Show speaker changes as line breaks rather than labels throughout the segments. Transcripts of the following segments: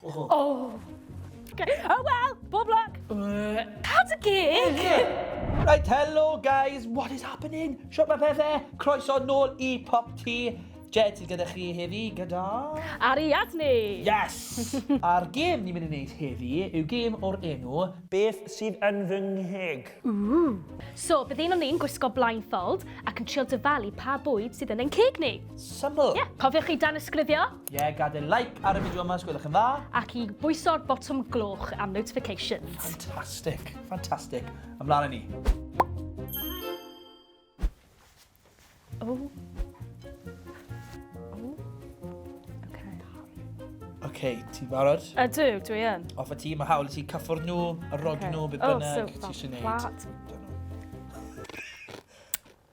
Oh.
oh. Okay. Oh well, bob luck. Uh. Cadw gig. Right,
hello guys, what is happening? Siop mae pethau, croeso nôl i Pop Tea. Jed sydd gyda chi heddi gyda... Ariad ni!
Yes!
A'r gêm ni'n mynd i wneud heddi yw gêm o'r enw... Beth sydd yn fy ngheg? Ooh. So,
bydd un o'n ni'n gwisgo blindfold ac yn trio dyfalu pa bwyd sydd yn ein ceg ni. Syml. Ie, yeah. cofiwch
chi dan
ysgrifio. Ie, gadael like
ar y fideo yma os gwelwch yn dda. Ac i bwyso'r
botwm gloch am notifications. Fantastic,
fantastic. Ymlaen i ni.
O.
okay, ti'n barod? Ydw, dwi yn.
Off y ti, mae hawl i ti
cyffwr nhw, y rod okay. nhw, beth oh, bynnag, oh, so, ti eisiau gwneud.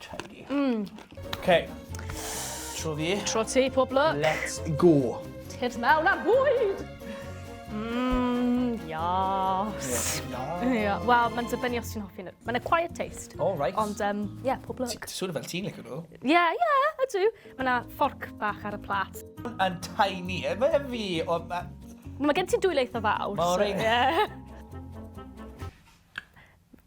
Chunky.
Mm. OK. Tro fi. Tro ti, pob lwc.
Let's go.
Tips mewn a
bwyd! Mmm, yas. Yeah. Wel, mae'n dibynnu os ti'n hoffi nhw. Mae'n a quiet taste. All right. Ond, um,
yeah, pob
lwc. Ti'n sŵr fel ti'n licio nhw?
Yeah, yeah, ydw.
Mae'n a fforc bach ar y plat. Yn tiny,
e, mae fi. O, ma... Mae
gen ti dwy leith o fawr. Mae o'r ein.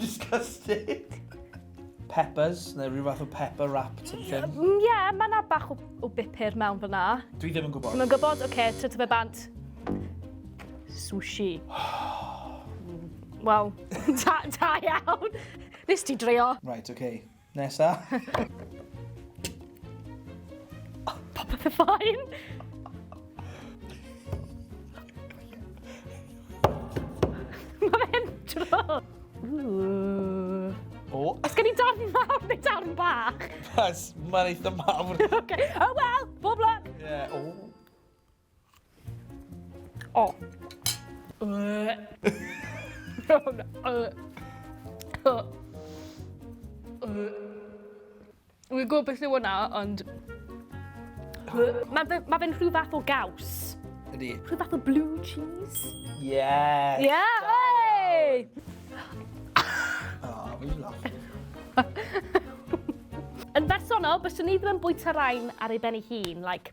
Disgusting. Peppers, neu rhyw fath o pepper wrap ti'n ffyn. Ie, mm, yeah, mae yna
bach o, o bupur mewn fyna. Dwi ddim yn gwybod. Ddim yn
gwybod? Oce, okay, tyd
fe bant. Sushi. Wel, da, da iawn. Nes ti dreio. Right, oce. Okay.
Nesa.
Popeth yn ffain. Mae fe'n dro.
O. Os gen i darn mawr
neu darn bach? Yes, mae'n eitha
mawr. okay. Oh well,
bob luck. Yeah, o. O. Wi'n gwybod beth yw hwnna, ond... Mae ma fe'n rhyw fath o gaws. Ydy. Rhyw fath
o blue
cheese. Yes.
Yeah, oi! Oh, fi'n laff.
Yn bersonol, byswn i ddim yn bwyta rhain ar ei ben ei hun, like,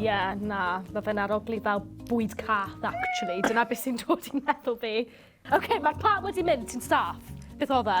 Ie, yeah,
na, mae fe'n arogli fel bwyd cath, actually. Dyna beth sy'n dod i'n meddwl fi. Oce, okay, mae'r plat wedi mynd, ti'n saff. Beth oedd e?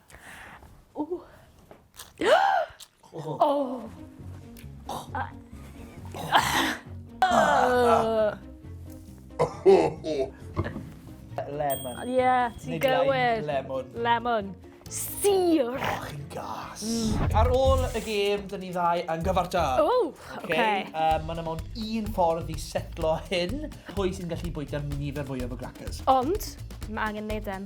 Lemon. Ie, ti'n
gywir. Lemon. Lemon. Sir! O, oh, chi'n
gas. Mm. Ar ôl y gêm, dyn ni ddau yn gyfarta. O, oh, oce. Okay.
Um, Mae'n amon
un ffordd i setlo hyn. Pwy sy'n gallu bwyta nifer fwyaf o grackers? Ond, mae
angen neud em.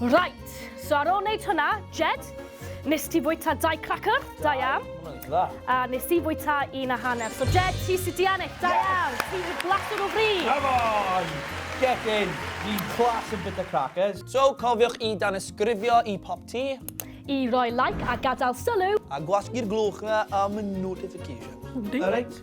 Right, so ar ôl wneud hwnna, Jed, nes ti fwyta dau cracker, da iawn. A
nes i
fwyta un a hanner. So Jed, ti sydd di ennill, da iawn. Ti sydd blasur o fri. Come on!
Get in! Ni'n class yn bita crackers. So, cofiwch i
danysgrifio i pop ti. I roi
like a gadael sylw. A gwasgu'r glwch
na am y notification. Alright.